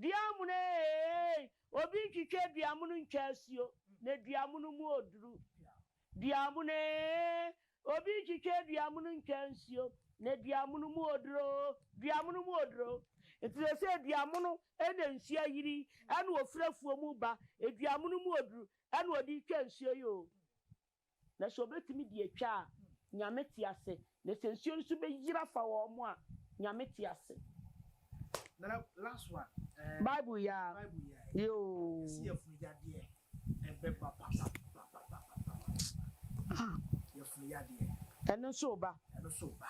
Duamono eeeii Obi ntwitwa duamono ntwa asuo na duamono mu oduru Duamono eeeii Obi ntwitwa duamono ntwa nsuo na duamono mu oduru oo Duamono mu oduru oo Nti seesei duamono na nsuo ayiri yi na ɔfiri afuo mu reba Duamono mu oduru na ɔde retwa nsuo yi oo na sɛ wɔbɛtumi de atwa a, Nyame te ase, na sɛ nsuo no nso bɛyiri afa wɔn a, Nyame te ase. Bible yɛ a, yɛ oo. Ɛno nso reba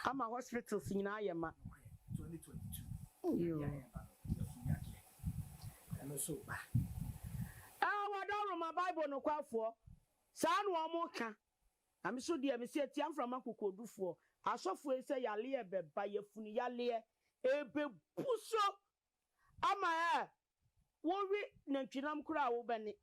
ama hospitals nyinaa ayɛ ma. Aa, wadaworo ma Bible nokwafoɔ. Saa na wɔn ka. Na me nso deɛ, mese atia mframa kokodufoɔ, asɔfoɔ yi sɛ yareɛ bɛba, yafunu yareɛ, ɛrebɛbu so ama ɛ, wowe nantwinam koraa a wobɛne,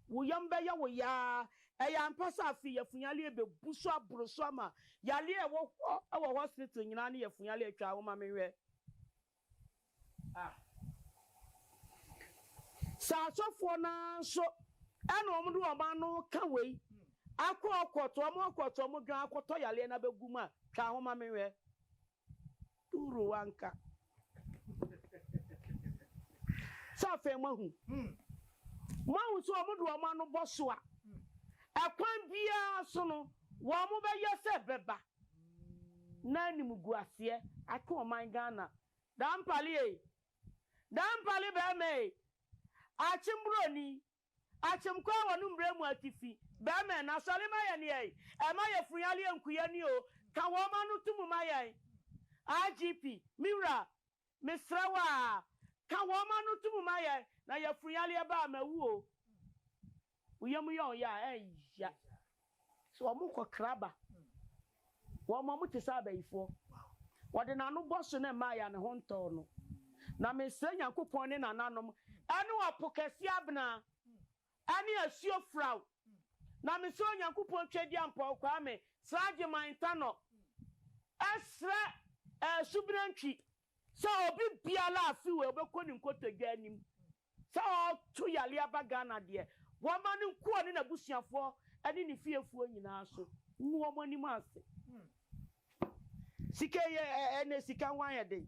wo yam bɛyɛ wo yaa, ɛyɛ ampa sɛ afei yafunu yareɛ bɛbu so aboro so ama yareɛ a ɛwɔ hɔ wɔ hospital nyinaa ne yafunu yareɛ, twaa wo ma menhwɛ. a. Sɛ asɔfoɔ no ara nso na wɔde wɔn ano reka wei, akɔ ɔkɔtɔ, wɔn akɔtɔ wɔn dwan akɔtɔ yareɛ no abɛgu mu a, twa ho ma me nhwɛ. Duru wanka. Sɛ afei moahu? Moahu sɛ wɔde wɔn ano bɔ so a, ɛkwan biara so no, wɔbɛyɛ sɛ ɛbɛba. na animguaseɛ ato ɔman Ghana. Dampale ei! Dampale bɛɛma ei! Akyem broni, akyem kɔ a wɔne mbrɛ mu atifi, bɛɛma ei! Na sɔre ma yɛn ei! Ɛma yɛ funyaleɛ nkuya ni oo! Ka wɔn ano to mu ma yɛn! IGP, me wura, Mesrɛ wo a, ka wɔn ano to mu ma yɛn, na yafunu yareɛ ba a, mawu o. Wo yam yɛ wɔn ya a, ɛyya. So wɔn kɔ kra ba. Wɔn, wɔn te sɛ abayifoɔ. Wɔde n'ano bɔ so ne mmaeɛ a ne ho ntɔɔ no. Na mesrɛ Nyankopɔn ne nananom, ɛne ɔpo kɛseɛ abena. Ɛne asuo firaw. Na me srɛ Onyankopɔn Twɛdi Ampɔw Kwame Srageman Ntanɔ ɛsrɛ ɛɛ Subena Ntwi sɛ obi biara a fi wei ɔbɛkɔ ne nkotodwe anim sɛ ɔɔto yareɛ aba Ghana deɛ wɔma no nko ɔne n'abusuafoɔ ɛne ne fiefoɔ nyinaa so ngu wɔn anim ase. Sika yi ɛɛ ɛnɛ sika ho ayɛ den.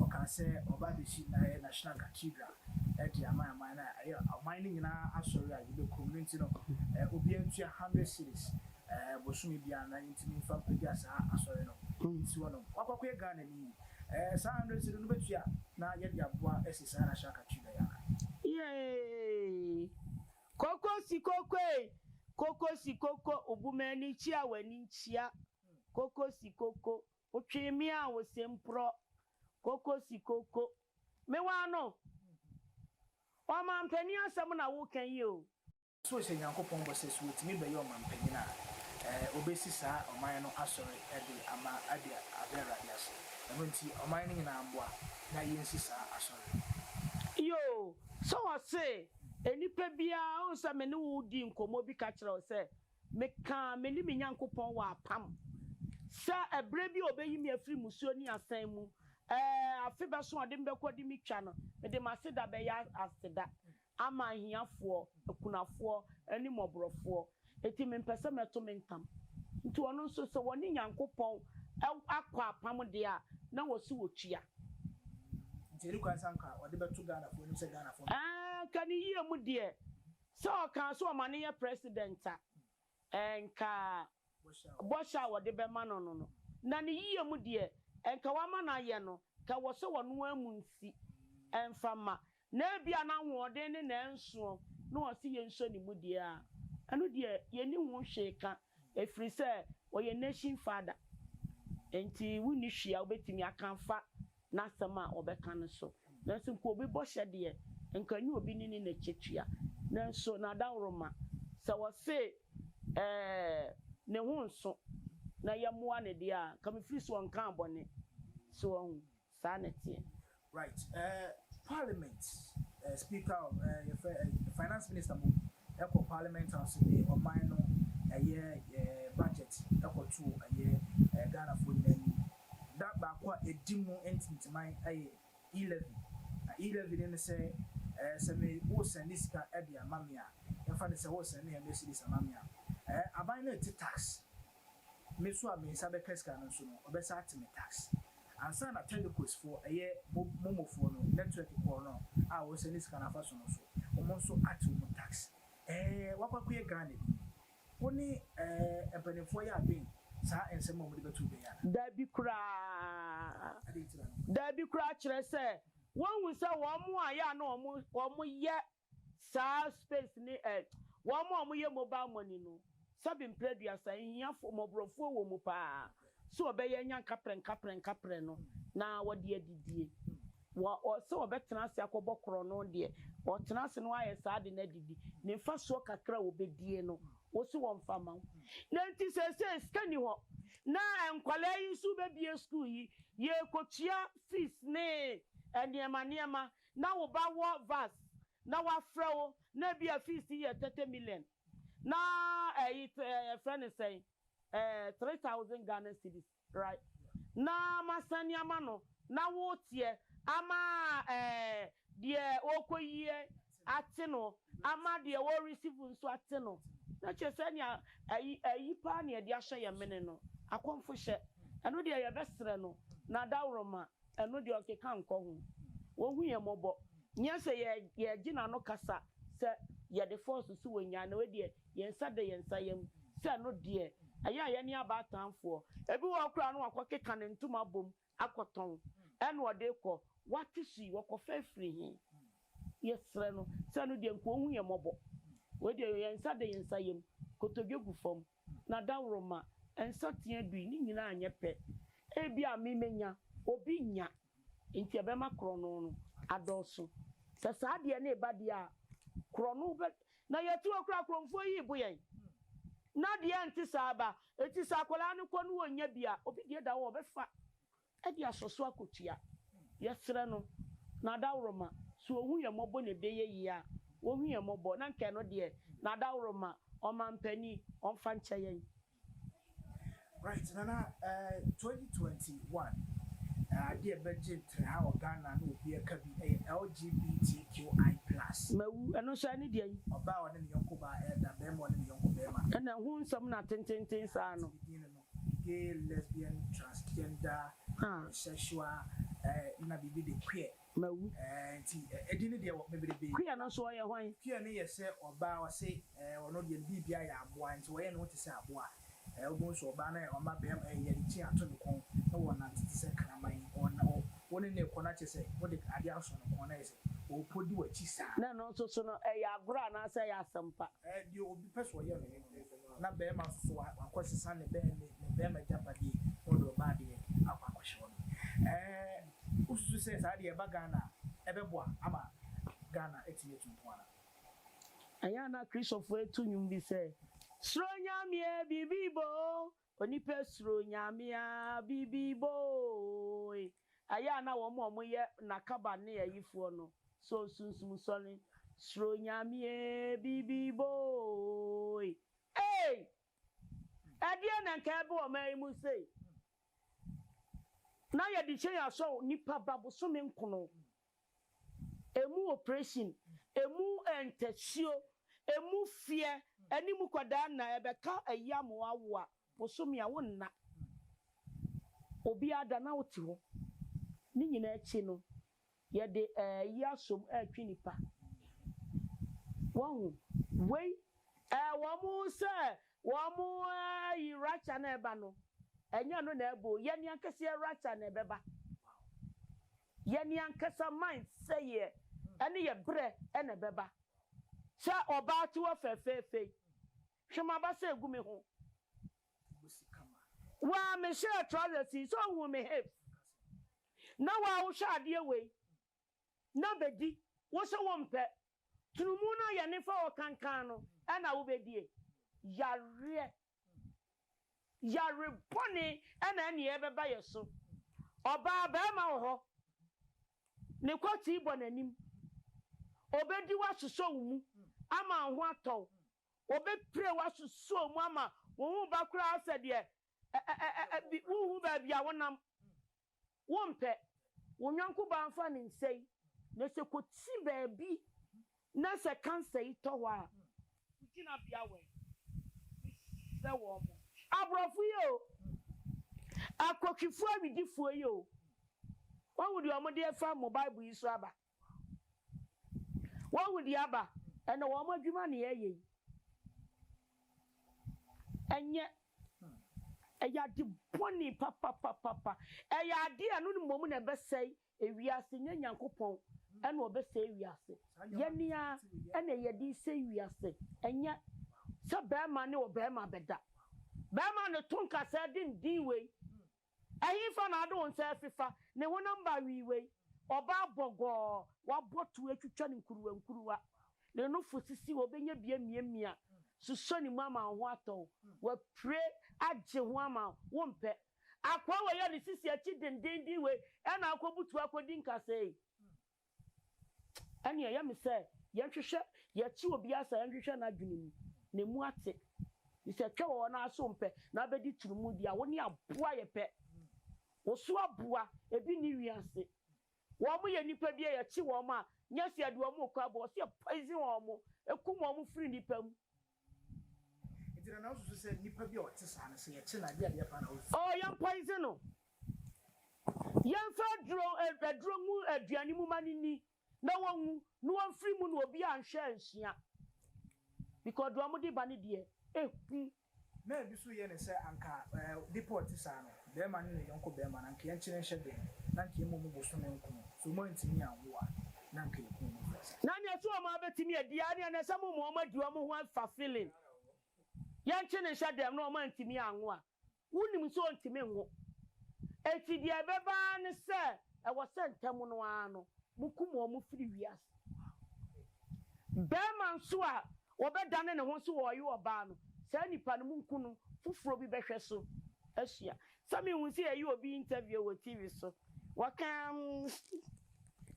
Ɔkaa sɛ ɔreba abɛsi Nayɛ National Cathedral de ama aman no a ɛyɛ ɔman no nyinaa asɔre a yɛbɛkɔ mu no nti no, obiara ntua hundred cedis bosome biara na yɛntumi mfa mpagya saa asɔre no nsi hɔ nom. Wakɔ akɔyɛ Ghanani. Saa hundred cedi no wobɛtua a na yɛde aboa asi saa National Cathedral yi anan. Yeeeii koko si koko ei koko si koko obu m'ani kyia w'ani nkyia koko si koko Otwee me a ose mprɔ koko si koko. Me waa no. Ɔmanpanin asɛm na woka yi o. So hyɛ Nyankopɔn bɔ sɛ so otumi bɛyɛ ɔmanpanyin a, obesi saa ɔman no asɔre de ama adi Awurade ase. Ɛno nti ɔman no nyinaa mmoa na yensi saa asɔre no. Yoo, sɛ ɔse nnipa biara, wohu sɛ me ne wo dii nkɔmmɔ bi ka kyerɛɛ wo sɛ Mekaa me ne me Nyankopɔn wɔ apam sɛ ɛberɛ bi a ɔbɛyi me afiri mmusuo ne asan mu, ɛɛ, afe bɛso a ɔde me bɛkɔ de me twa no, mede m'aseda bɛyɛ aseda ama ahiafoɔ, akunafoɔ ne mmɔborɔfoɔ. Enti mempɛ sɛ mɛto me ntam. Enti ɔno nso sɛ ɔne Nyankopɔn akɔ apam deɛ a, na wɔse wɔtua. Nti ɛne kwan sɛ anka ɔde bɛto Ghanafoɔ anim sɛ Ghanafoɔ. Ɛɛ, anka ne yie mu deɛ, Sɛ ɔkaa sɛ ɔma no yɛ president a, ɛnka bɔhyɛ a wɔde bɛma no no no, na ne yiye mu deɛ, ɛnka wɔama no ayɛ no, ka wɔ sɛ ɔno ara mu nsi mfa mma, na ebia n'ahoɔden ne n'ɛnsoɔ na ɔse yɛnsɔ ne mu deɛ a, ɛno deɛ yɛnni ho hwee ka, ɛfiri sɛ ɔyɛ nation father, enti wonni hwee a wobɛtumi aka afa n'asɛm a ɔbɛka no so. Nanso nka obi bɔhyɛ deɛ, nka ɛnyɛ obi ne ne na ɛtwatua. Nanso n'adaworoma, sɛ wɔse ɛɛ ne ho nso na yɛmmoa no deɛ a, nka mefiri sɛ ɔnkaa bɔne. So wahu? Saa na ɛteɛ. Right, eh, Parliament, eh, Speaker of, eh, yɛfrɛ, eh, Finance Minister Mompong, kɔ parliament house de ɔman no ɛyɛ budget kɔ to ɛyɛ Ghanafoɔ nyinaa anim. Da baako a ɛdi mu ntintiman yɛ E-levy. Na E-levy no ne sɛ sɛ me wo sɛnde sika de ama me a, yɛmfa no sɛ wo sɛnde hundred cedis ama me a, aban no rete tax Me nso a me nsa bɛka sika no nso no ɔbɛsa ate me tax. Ansa na Telcos foɔ ɛyɛ momo foɔ no network korɔ no a wɔsɛne sika no afa so no so wɔn nso ate wɔn tax. Ɛɛ wakɔ akɔyɛ Ghana bi ni? Wo ne ɛɛ mpaninfoɔ yɛ adwen saa nsɛm a wɔde bɛto dwa yi anaa? Daabi koraa. Daabi koraa kyerɛ sɛ wɔnhu sɛ wɔn a yɛ a na wɔn yɛ saa space ne eh Wɔn a wɔn yɛ mobile money no sɛbe mprɛ aduasa ahiafoɔ mmɔborɔfoɔ wɔ mu paa sɛ wɔbɛyɛ anya nkaprɛ nkaprɛ nkaprɛ no na wɔde adidie wɔ ɔ sɛ wɔbɛtena ase akɔbɔ korɔno deɛ wɔtena ase no ayɛ saa de no adidi ne mfasoɔ kakra a wɔbɛdie no wo se wɔmfa mma wo na nti seesei sika nni hɔ na nkwadaa yi nso bɛbie school yi yɛrekɔtua fees ne nneɛma nneɛma na wo ba wɔ vas na wafrɛ wo na ebia fees no yɛ thirty million na ɛyi yɛfrɛ no sɛn eh, three thousand Ghana cedis right na masane ama no na woteɛ ama eh, deɛ ɔrekɔyiɛ ate no ama deɛ wɔreceive nso ate no na kyerɛ sɛ nea ɛyi ɛyi paa na yɛde ahyɛ yɛn mene no akɔmfohyɛ ɛno deɛ yɛbɛsrɛ no na daworo ma Ɛno deɛ ɔkeka nkɔ ho. Wɔhu yɛn mmɔbɔ. Nyɛ sɛ yɛ yɛgye n'ano kasa sɛ yɛde force so wɔ nyaa na wei deɛ yɛn nsa da yɛn nsa yam sɛ ɛno deɛ ɛyɛ a yɛne aba atanfoɔ. Ebi wɔ hɔ koraa no wakɔ keka ne ntoma abɔ mu akɔ tɔn ɛna ɔde rekɔ. Wate so yi wɔkɔfa afiri he? Yɛsrɛ no sɛ ɛno deɛ nka ɔnhu yɛn mmɔbɔ. Wei deɛ yɛn nsa da yɛn nsa yam. Kotodwe gu fam. Na dawuroma nsateaa du yi, ne nyinaa nyɛ pɛ. Ebia me menya, obi nnya. Enti ɛbɛma korɔno no adɔɔso. Sɛ saa adeɛ no reba deɛ a, korɔno bɛ. Na yɛte hɔ koraa korɔmfoɔ yi rebo yɛn. Na adeɛ nte saa ba. Enti sɛ akwadaa no kɔ na ɔnnya bi a, obi deɛ da hɔ a, ɔbɛfa. Ɛde asɔ so akotua. Yɛsrɛ no n'adaworoma, sɛ ɔhu yɛn mmɔbɔ na ɛbɛ yɛ yie a, ɔnhu yɛn mmɔbɔ, na nka ɛno deɛ, n'adaworoma, ɔmanpanin, ɔmfa nkyɛ yɛn. Right, Nana, eh, twenty twenty one, eh, adeɛ a ɛbɛgye nterha wɔ Ghana na obiara ka bi yɛ LGBTQI plus. Mawu, ɛno nso ɛne deɛn? Ɔbaa a ɔne ne yɔnko baa ɛreda, barima a ɔne ne yɔnko barima. Ɛna ɛho nsɛm na tententen saa no. Gay, lesbian, transgender, bisexual, na biribi de queer. Mawu. Nti edin no deɛ wɔ bebrebe. Queer no nso ɔyɛ hwan? Queer no yɛ sɛ ɔbaa a ɔse ɔno deɛ ne biribiara yɛ aboa nti ɔyɛ ne ho te sɛ aboa. Wobɛhu nso ɔbaa no a ɔma barima yɛde kyin ato ne kɔn na wɔnante te sɛ kraman yi. Wo ne no rekɔ no akyerɛ sɛ wode adeɛ asɔ ne kɔn na ayɛ sɛ ɔrepɔ di w'akyi saa. Na ɛno nso so no, ɛyɛ agorɔ anaasɛ ɛyɛ asɛm pa? Deɛ obi pɛ sɛ ɔyɛ no. Na bɛɛma so a akɔ sesa ne bɛɛ ne ne bɛɛma agyapadie na ɔde ɔbaa deɛ akɔ akɔ hye hɔ no ɛɛ wo susu sɛ saa deɛ ɛba Ghana a ɛbɛboa ama Ghana atumi atu mpɔn anaa. Ɛnyɛ a na Christopher ɛto nwom bi sɛ Suro Nyamea bibi boo onipa suro Nyamea bibi boo ee Ɛyɛ a na wɔn a wɔyɛ N'akaban ne ayifoɔ no sɔ sunsum sɔne, Soro Nyame ee, bibibo ooe. Ei! Ɛdeɛn na nka ɛreba ɔman yi mu sei? Na yɛde hyɛn asɔ nipa ba bosome nkono Emu opresin, emu ntasuo, emu feɛ ɛne emu kwadaa nna ɛbɛka ɛyam wo awo a bosome a wo nna obiara da na wo te hɔ. Ne nyinaa akyi no yɛde ɛyi asom ɛretwe nipa. Wahu? Wei ɛɛ wɔn sɛ wɔn ɛɛyi rapture na ɛba no ɛnyɛ ɛno na ɛba o, yɛn ankasa yɛn rapture na ɛbɛba. Yɛn ankasa mind sɛeɛ ɛne yɛ berɛ na ɛbɛba. Sɛ ɔbaa tiwɔ fɛfɛɛfɛ yi. Hwɛ m'abasa ɛgu me ho. Waa me hyɛɛ trousers yi sɛ ɔhuu me hips. Na waa wo hwɛ adeɛ wei na bɛdi wo sɛ wo mpɛ. Tunumu no a yɛne fa ɔkankan no ɛna wo bɛdie. Yareɛ Yare bɔne na ɛne ɛbɛba yɛ so. Ɔbaa barima wɔ hɔ, ne kɔtii bɔ n'anim. Ɔbɛdi wo asosɔ wo mu ama wo ho atɔ wo. Ɔbɛpire wo asosɔ wo mu ama wo ho reba koraa sɛ deɛ ɛ ɛ ɛ ɛ bi wonhu baabi a wonam. wompɛ wo yɔnko baa mfa ne nsa yi na sɛ kɔti baabi na sɛ cancer yi tɔ hɔ a, wo gyinabea wɔ he? Mesrɛ wo ɔmo. Aborɔfo yi o, akɔhwifoɔ awidifoɔ yi o, wahu deɛ ɔmo de afa mo Bible yi so aba. Wahu deɛ aba ɛna wɔn adwuma na yɛyɛ yi ɛnyɛ ɛyɛ ade bɔne papapapapa ɛyɛ ade a ɛno no mmom na ɛbɛsɛe ewiase nyɛ Nyankopɔn ɛna ɔbɛsɛe ewiase yɛne ara ɛna yɛde resɛe ewiase ɛnyɛ sɛ barima ne ɔbarima bɛda barima na ɛto nkasɛɛ denden wei Ɛhefa na ade wo nsa afefa? Ne honam ba awiiwei, ɔbaa bɔgɔɔ, w'abɔtow atwitwa no nkuruwankuruwa, ne nofo sisi hɔ, obenya bi amiamia, susɔ ne mu ama wo ho atɔ wo, wapire agye ho ama wo, wompɛ. Akoa wei a ne sisi akyi dendeenden wei na akɔbutuw akɔdi nkasɛɛ yi? Ɛnneɛ ɛyɛ me sɛ yɛnhwehwɛ, yɛte obi ase a yɛnhwehwɛ n'adwene mu, n'amu ate. Efisɛ ɛtwa wɔ hɔ no ara sɛ wompɛ na abɛdi turumudi a wo ne aboa yɛ pɛ. Wo so aboa, ebi nni wi ase. Wɔyɛ nnipa bi a yɛte wɔn a, nyɛ sɛ yɛde wɔn rekɔ aba hɔ, sɛ yɛpoison wɔn, kum wɔn firi nnipa mu. Oh yɛn poison no yɛn fa aduro aduro ngu aduane mu ma no nni na wɔnwu na wɔn firi mu na obi anhwɛ ansua because deɛ wɔn de ba no deɛ ehu. Bɛɛma ne ne yɔnko bɛɛma na nka yɛnkyene nhyɛ den, na nka yɛmɔ mu bosome nkron, sɛ ɔmu antumi anwo a, na nka yɛku ɔmu gu ase. Na neɛ sɛ ɔmu abɛtumi adi a, ɛneɛ na ɛsɛ mo ma ɔmu adi ɔmu ho fa feeling, yɛnkyene nhyɛ dɛm, na ɔmu antumi anwo a, wo nim sɛ ɔntumi nwo, enti deɛ ɛbɛba ara ne sɛ ɛwɔ sɛ ntɛm no ara no mo kum ɔmu firi wiase. Bɛɛma nso a Wɔbɛdane ne ho nso wɔ ɔye ɔbaa no, saa nipa no munku no, foforɔ bi bɛhwɛ so asua. Sɛ me hu sɛ yɛyɛ obi interview wɔ TV so waka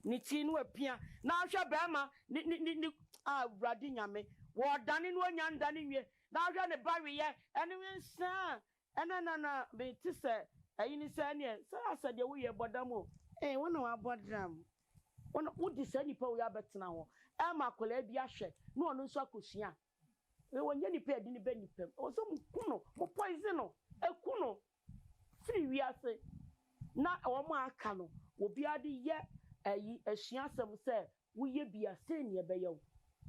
ne ti na wapia na ahwɛ barima ne ne ne ne ah awurade nyame wɔɔdane no onya ndane nwie na ahwɛ ne ba weyɛ ɛne wensɛɛ Ɛna na na me te sɛ ayi ne sɛ ɛneɛ sɛ asɛ deɛ wo yɛ bɔ dam o. Ee wo na wabɔ dam. Wo na wo de saa nipa wei abɛtena hɔ ɛma akwadaa bi ahwɛ na ɔno nso akɔ sua. Wei ɔnyɛ nipa yɛde no ba nipa mu. Ɛwɔ sɛ mo ku no, mo poison no, ɛku no firi wiase na wɔn a aka no obiara de yɛ ayi asua asɛm sɛ wo yɛ bi a sɛn neɛ ɛbɛyɛ wo.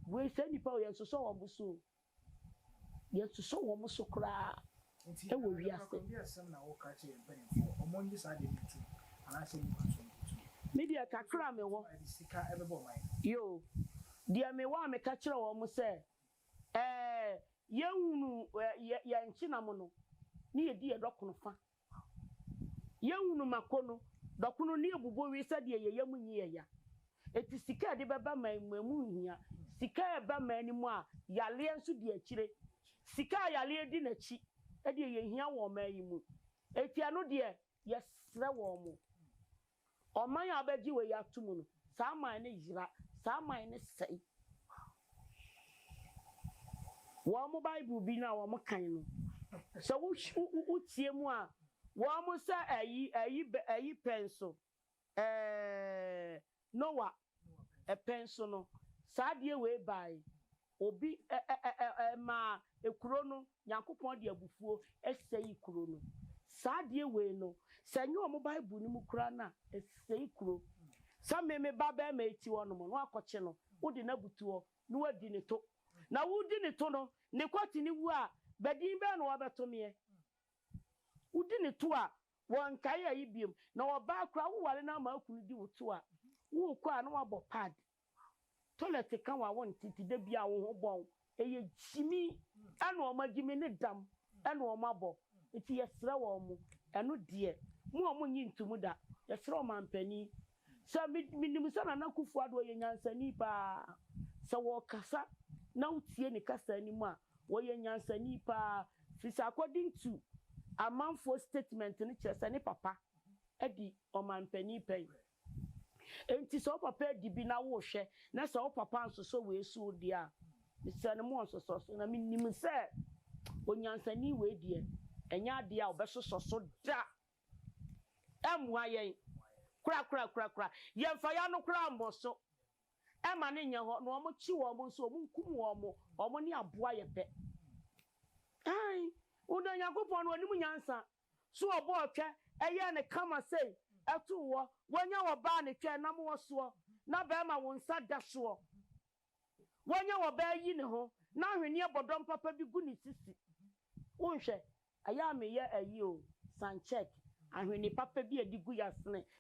Wei saa nipa wei yɛnsosɔ wɔn bo so o. Yɛsosɔ wɔn so koraa wɔ wiase. Me deɛ kakra a mewɔ yoo. Deɛ mewɔ a meka kyerɛ wɔn sɛ ɛɛ yɛnhunu yɛn nkyenam no na yɛdi yɛn dɔ kono fa Yɛhunu mako no, dɔkono ne abubowee sɛdeɛ yɛn yam nyi yɛn ya. Enti sika a yɛde bɛba man mu ɛmu nhia. Sika a ɛba man no mu a yareɛ nso di akyire. Sika a yareɛ di n'akyi deɛ yɛhia wɔ ɔman yi mu. Enti ɛno deɛ yɛsrɛ wɔn. Ɔman a ɔbɛgye wei atom no, saa man no yera, saa man no sɛe. Wɔn Bible bi no a wɔkan no, sɛ wotie mu a, wɔsɛ ayi, ayi, ayi pɛn so, ɛɛ, Noa pɛn so no, saa adeɛ wei baeɛ. Obi maa kuro no, Nyankopɔn de abufuo sɛi kuro no. Saa adeɛ wei no, sɛ ɛnyɛ wɔn Bible no mu koraa no a, ɛsɛi kuro. Sɛ me me ba barima yi te hɔ nom na woakɔkye no, wode no abutu hɔ na woadi ne to. Na wodi ne to no, ne kɔte no wu a, badin bɛn na wɔbɛto meɛ? Wodi ne to a, wɔnkae ayi biom. Na ɔbaa koraa, woware no ama wo kunu di wo to a, worekɔ a na woabɔ paadi. Toilet ka wo a wonte nti da biara wo ho bɔn. Ɛyɛ gyimi ɛna wɔn agyimi ne dam ɛna wɔn abɔ nti yɛsrɛ wɔn. Ɛno deɛ mo a monnye ntom da yɛsrɛ ɔmanpanin sɛ me menim sɛ Nana Akuffo Addo ɔyɛ nyansani paa sɛ wɔkasa na wotie ne kasa anim a ɔyɛ nyansani paa firi sɛ according to amanfoɔ statement no kyerɛ sɛ ne papa adi ɔmanpanin pɛn. Enti sɛ wo papa adi bi na worehwɛ na sɛ wo papa ansosɔ wei so deɛ a, mesrɛ no monsosɔ so. Na menim sɛ onyansani wei deɛ, ɛnyɛ adeɛ a ɔbɛsosɔ so da. Ɛmmoa yɛn korakorakorakora. Yɛmfa yɛn ano koraa mmɔ so mma no nyɛ hɔ. Na wɔkye wɔn nso, wɔnkum wɔn, wɔn ne aboa yɛ pɛ. Aane, wo dɔ Nyankopɔn no, ɔnim nyansa. So ɔbɔɔ twɛ yɛɛ no kama sei too hɔ, wonya wɔ baa ne twɛ nam wɔ soɔ, na bɛɛma wo nsa da soɔ, wonya wɔ bɛɛ yi ne ho, na ahweneɛ bɔdɔm papa bi gu ne sisi. Wonhwɛ, ɛyɛ a meyɛ ayi o, sun check, ahwene papa bi a ɛde gu yasene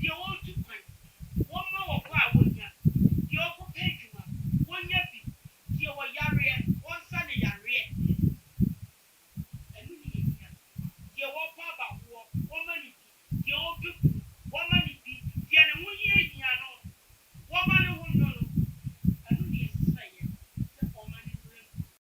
deɛ wɔretu kwan, wɔmma wɔbɔ a wɔnya, deɛ ɔrekɔpɛ adwuma, wɔnya bi, deɛ ɔyareɛ, wɔnsa no yareɛ, ɛno ne yɛhia, deɛ ɔrebɔ abawoɔ, wɔmma no bi, deɛ ɔrepɛ kunu, wɔmma no bi, deɛ ne ho hiahia no, wɔmma ne ho nwono, ɛno ne yɛsrɛeɛ sɛ ɔmma no mmra mu.